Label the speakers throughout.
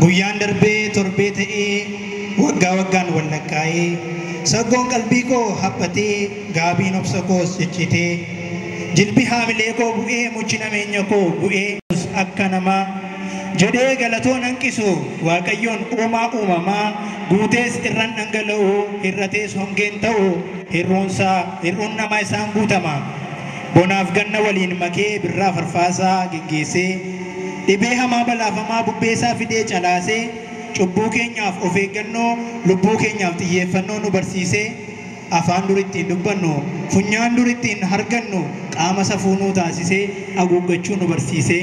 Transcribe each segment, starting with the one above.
Speaker 1: Guyyaan darbee torbee ta'ee Waggaa waggaan wal lakkaa'ee Saggoon qalbii koo haphatee Gaabiin obsa koos cicciitee Jilbi haamilee koo bu'ee Muchi nameenya koo bu'ee. Yesus akka namaa Jedhee galatoo nan qisu Waaqayyoon uumaa uumamaa Guutees irran dhangala'u Hir'atees hongeen ta'u Hir'uunsaa hir'uun namaa isaan guutama. Bonaaf ganna waliin makee birraa farfaasaa geggeessee Dhibee hamaa balaafamaa bubbeesaa fidee calaasee Cubbuu keenyaaf of eeggannoo lubbuu keenyaaf xiyyeeffannoo nu barsiisee Afaan dur ittiin dubbannu funyaan dur ittiin hargannu qaama safuu nuu taasisee Aguuggachuu nu barsiisee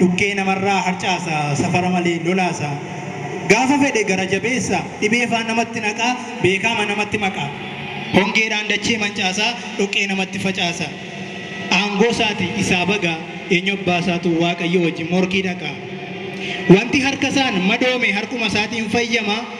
Speaker 1: Dhukkee namarraa harcaasa, safara malee lolaasa. Gaafa fedhe gara jabeessa, dhibee faa namatti naqa, beekaama namatti maqa. Hongeedhaan dachee mancaasa, dhoqqee namatti facaasa. Aangoo saati isaa baga, eenyu abbaa saatu Waaqayyoo wajjin morkii dhaqa. Wanti harka saan madoome harkuma saatiin fayyama,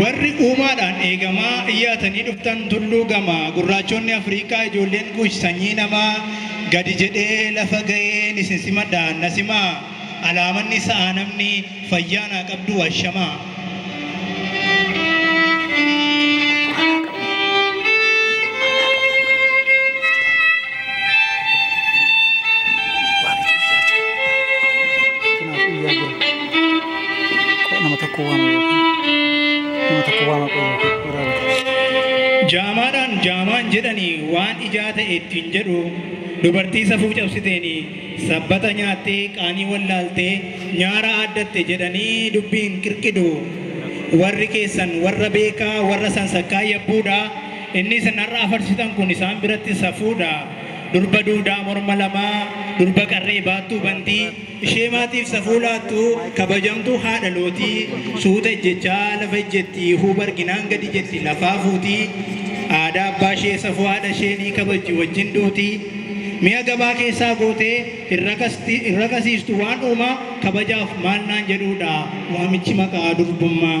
Speaker 1: Warri uumaadhaan eegamaa iyyaatanii dhuftan tulluu gama, gurraachonni Afriikaa ijoolleen Kuush sanyii namaa, gadi jedhee lafa ga'een isin simadha, na simaa, alaamanni sa'aa namni, fayyaa naa qabduu ashamaa. nama tokko waama nama tokko waama qoyyoo jaamaadhaan jaamaan jedhanii waan ijaa ta'e ittiin jedhu dubartii safuu cabsiteen sabbata nyaattee qaanii wallaaltee nyaara aaddatte jedhanii dubbiin qirqidu warri keessan warra beekaa warra sansakkaa yabbuudha inni isin har'a afarsitan kun isaan biratti safuudha durba duudaa morma lamaa durba qarree baattuu bantii Ishee maatiif safuu laattu kabajamtuu haadha lootii suuta ejjechaa lafa ejjetti huuba arginaan gadi jetti lafaa fuuti aadaa abbaa ishee safuu haadha ishee ni kabajji wajjin duuti mi'a gabaa keessaa gootee hin rakasti hin rakasiistu waan uumaa kabajaaf maal naan jedhuudha waamichi maqaa durbummaa.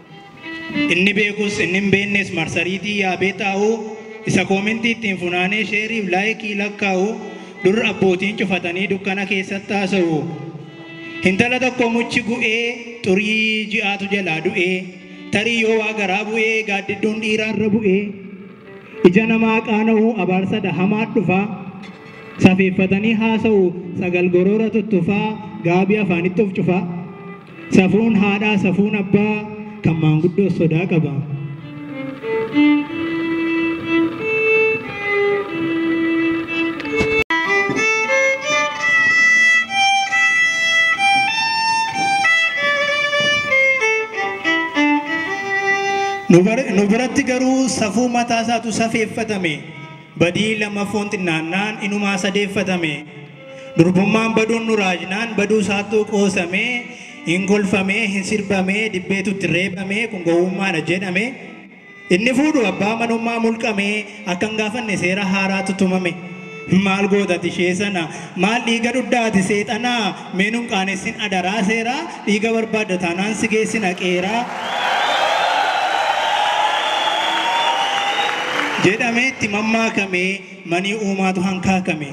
Speaker 1: Inni beekus inni hin beeknes marsariitii yaabee taa'u, isa koomentii ittiin funaanee sheerii fi laayikii lakkaa'u, dur abbootiin cufatanii dukkana keessatti haasa'u. Hintala tokko muchi gu'ee xurii ji'aatu jalaa du'e, tarii yoo waa garaa bu'e gaaddidduun dhiiraa irra bu'e. Ija namaa qaana'u abaarsa dha hamaat dhufa. Safeeffatanii haasa'u sagal goroora tuttufaa gaabii afaanitti of cufa. Safuun haadhaa safuun abbaa kan maanguddoos sodaa qaba. Nu bar- nu biratti garuu safuu mataa isaatu safeeffatame badii lamaffoon xinnaannaan inumaa sadeeffatame Durbummaan baduun nu raajnaan baduu isaattuu qoosamee, hin kolfamee, hin sirbamee, dibbeetu itti reebamee kun gowwummaadha jedhame. Inni fuudhu abbaa manummaa mulqamee akka hin gaafanne seera haaraatu tumame. Maal goota ati ishee sana? Maal dhiiga dhuddaa ati seexanaa? Mee nun qaanessin adaraa seeraa, dhiiga barbaadda taanaan si geessina qeeraa. jedhamee itti mammaakame. manii uumaatu hankaakame.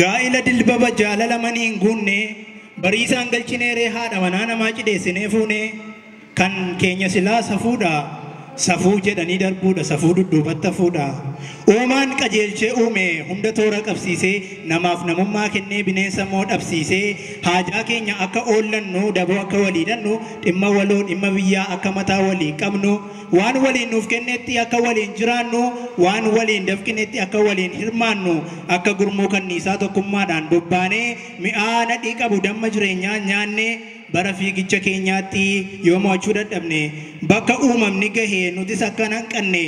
Speaker 1: Gaa'ila dilbaba jaalala manii hin guunne, bariisaan galchinee ree haadha manaa namaa cidheessinee fuunee. Kan keenya silaa safuudha Safuu jedhanii darbuudha Safuu dudduubatti hafuudha Uumaan qajeelchee uume Hunda toora qabsiisee Namaaf namummaa kennee Bineensa immoo dhabsiisee Haajaa keenya akka oollannu Daboo akka walii hidhannu Dhimma waloo dhimma biyyaa Akka mataa walii qabnu Waan waliin nuuf kennetti Akka waliin jiraannu Waan waliin dafqinetti Akka waliin hirmaannu Akka gurmuu kanniisaa Tokkummaadhaan bobbaanee Mi'aa nadhii qabu Damma jireenyaa nyaannee Bara fiigicha keenyaatti yoo mo'achuu dadhabne, bakka uumamni gahe nutis akka hin hanqanne,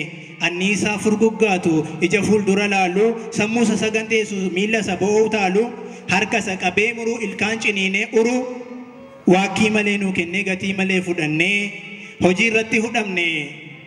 Speaker 1: anniisaa furguggaatu ija fuuldura laalu, sammuusa saganteessu miillasa bo'oo utaalu, harkasa qabee muru ilkaan ciniinee uru, waakkii malee nuu kennee gatii malee fudhannee hojiirratti hudhamne.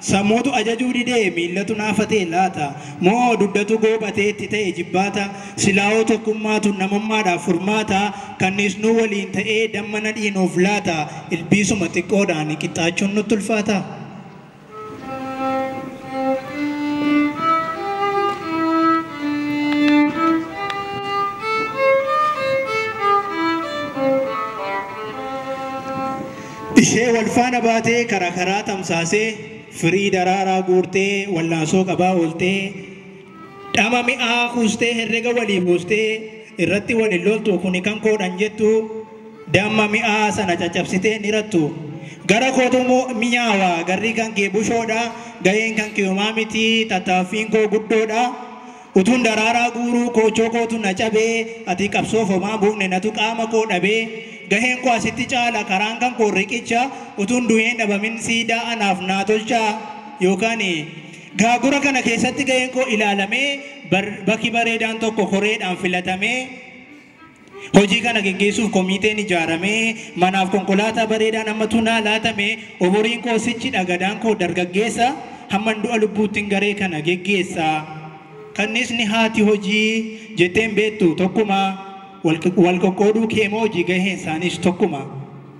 Speaker 1: Sammuutu ajajuu didee miillatu naafa ta'e laata? Moo duddatu goophatee itti ta'e ijibbaata? Silaahoo tokkummaatu namummaadhaaf furmaata? Kanniisnuu waliin ta'ee damma nadhii nuuf laata? Ilbiisuma xiqqoodhaan qixxaachuun nutti ulfaata? Ishee wal faana baatee kara karaa tamsaasee firii daraaraa guurtee wallaansoo qabaa ooltee dhama mi'aa kuustee herrega walii buustee irratti wal hin loltu kuni kan koodhan jettu damma mi'aa sana caccabsitee hin hirattu gara kootu mi'aawa garri kan kee bushoodha gaheen kan kiyumaa miti tattaaffiin koo guddoodha Utuun daraaraa guuruu koochoo kootu na cabee Ati qabsoof homaa hin buufne natu qaama koo dhabee Gaheen koo asitti caala karaan kan koo riqicha Utuun du'ee hin dhabamin siidaa anaaf naa tolchaa Yookaan gaagura kana keessatti gaheen koo ilaalamee Bakki bareedaan tokko koreedhaan filatamee Hojii kana geggeessuuf komiiteen ijaaramee, manaaf konkolaataa bareedaan hammatu naa laatame, umuriin koo sichi dha gadaan koo dargaggeessa, hamman du'a lubbuuttin garee kana geggeessa. Kanniisni haati hojii jettee hin beektu tokkuma, wal qoqqooduu kee moo hojii gaheen isaaniis tokkuma.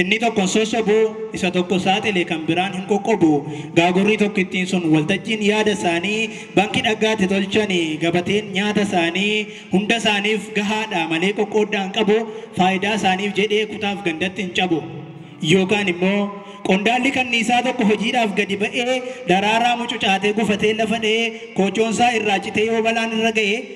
Speaker 1: Inni tokko hin sossobu, isa tokko saaxile kan biraan hin qoqqobu. Gaagurri tokkittiin sun waltajjiin yaada isaanii banki dhaggaatti tolchani, gabateen nyaata isaanii hunda isaaniif gahaadha malee qoqqooddaa hin qabu, faayidaa isaaniif jedhee kutaaf gandatti hin cabu. Yookaan immoo qondaalli kanniisaa tokko hojiidhaaf gadi ba'ee daraaraa mucucaatee gufatee lafa dha'ee koochoon isaa irraa citee yoo balaan irra ga'e,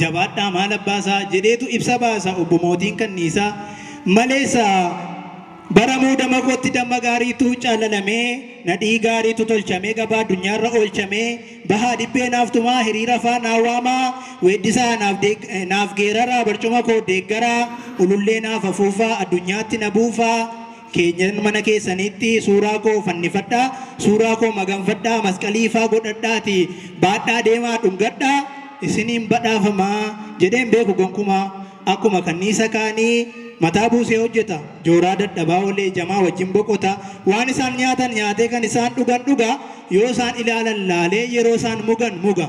Speaker 1: Jabaadhaa maal abbaa isaa jedheetu ibsa baasa obbo Mootiin Kanniisaa. Malees Bara muudama kootti damma gaariitu callalamee, nadhii gaariitu tolchamee gabaa addunyaarra oolchamee, bahaa dibbee naaf tumaa, hiriirafaa naa waamaa, weeddisaa naaf geeraraa, barcuma koo deeggaraa, ulullee naaf afuufaa, addunyaatti na buufaa, keenyan mana keessaniitti suuraa koo fannifadhaa, suuraa koo maganfadhaa, masqalii faa godhadhaatii baadhaa deemaa dhungadhaa, isin hin badhaafama jedhee hin beeku gonkumaa. Akkuma kanniisa kaanii mataa buusee hojjeta, jooraa dadhabaa oolee jamaa wajjin boqota, waan isaan nyaatan nyaatee kan isaan dhugan dhuga, yoo isaan ilaalan laalee yeroo isaan mugan muga.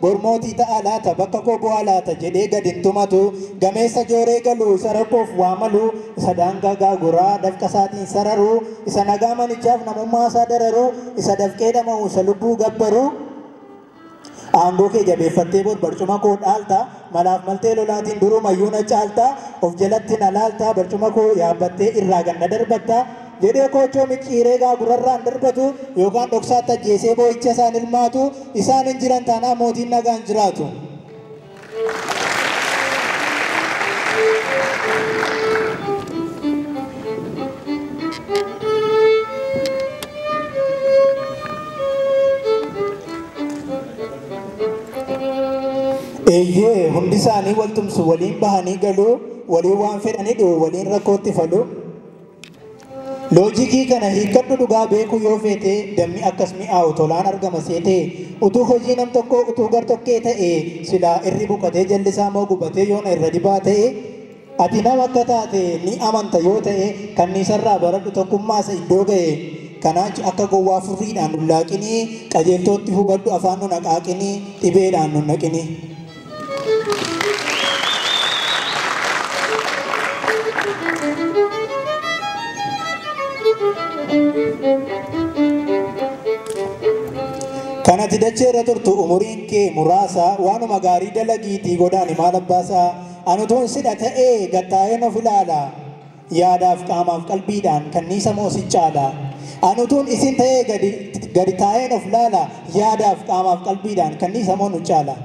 Speaker 1: Bor mootii ta'aa laata, bakka koo bu'aa laata jedhee gad hin tumatu. Gameessa jooree galu, isa rakkoof waa malu, isa daangaa gaaguraa dafqa isaatiin sararu, isa nagaa manichaaf namummaa isaa dararu, isa dafqee dhama'u, isa lubbuu gabbaru. Aangoo kee jabeeffattee bor barcuma koo dhaalta, malaaf maltee lolaatiin durumayyuu na caalta, of jalatti na laalta, barcuma koo yaabbattee irraa gad na darbatta. jedhee koochoo micciiree egaa gurrarraan darbatu yookaan dhoksaatti ajjeesee boo'icha isaan ilmaatu isaan hin jiran taanaan mootiin nagaa hin jiraatu. Eeyyee hundi isaanii wal tumsu waliin bahanii galuu waliin waan fedhanii dhi'u waliin rakkootti faluu. Loojikii kana hiikkadhu dhugaa beekuu yoo feete dammi akkas mi'aawu tolaan argama seete utuu hojii nam tokkoo utuu gar tokkee ta'ee silaa irri buqatee jalli isaa moo gubatee yoona irra dibaa ta'e ati nam akka taate ni amanta yoo ta'e kanniisarraa baradhu tokkummaasa iddoo ga'e kanaach akka gowwaa furriidhaan nun laaqinii qajeeltootti hubadhu afaan nun haqaaqinii dhibeedhaan nun naqinii. Kan ati dachee irra turtu umuriin kee muraasa waanuma gaarii dalagiitii godaani maal abbaasaa anutuun sidha ta'ee gattaa'een of ilaala. Yaadaaf qaamaaf qalbiidhaan kanniisa moo sin caalaa? An utuun isin ta'ee gadi gadi taa'een of laalaa? Yaadaaf qaamaaf qalbiidhaan kanniisa moo nu caalaa?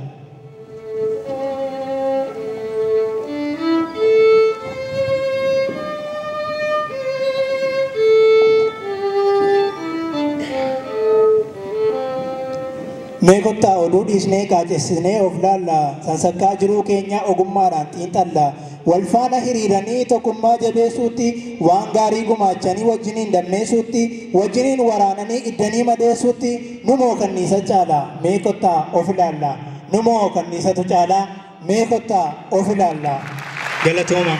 Speaker 1: Mee kottaa oduu dhiisnee qaacessinee of laallaa? Sansakkaa jiruu keenyaa ogummaadhaan xiinxallaa? walfaana hiriiranii tokummaa jabeesuutti, waan gaarii gumaachanii wajjiniin dammeesuutti, wajjiniin waraananii iddanii madeessuutti numoo kanniisa caala? Mee kottaa of ilaalla. Numoo kanniisatu caala? Mee kottaa of ilaalla. Galatoomaa.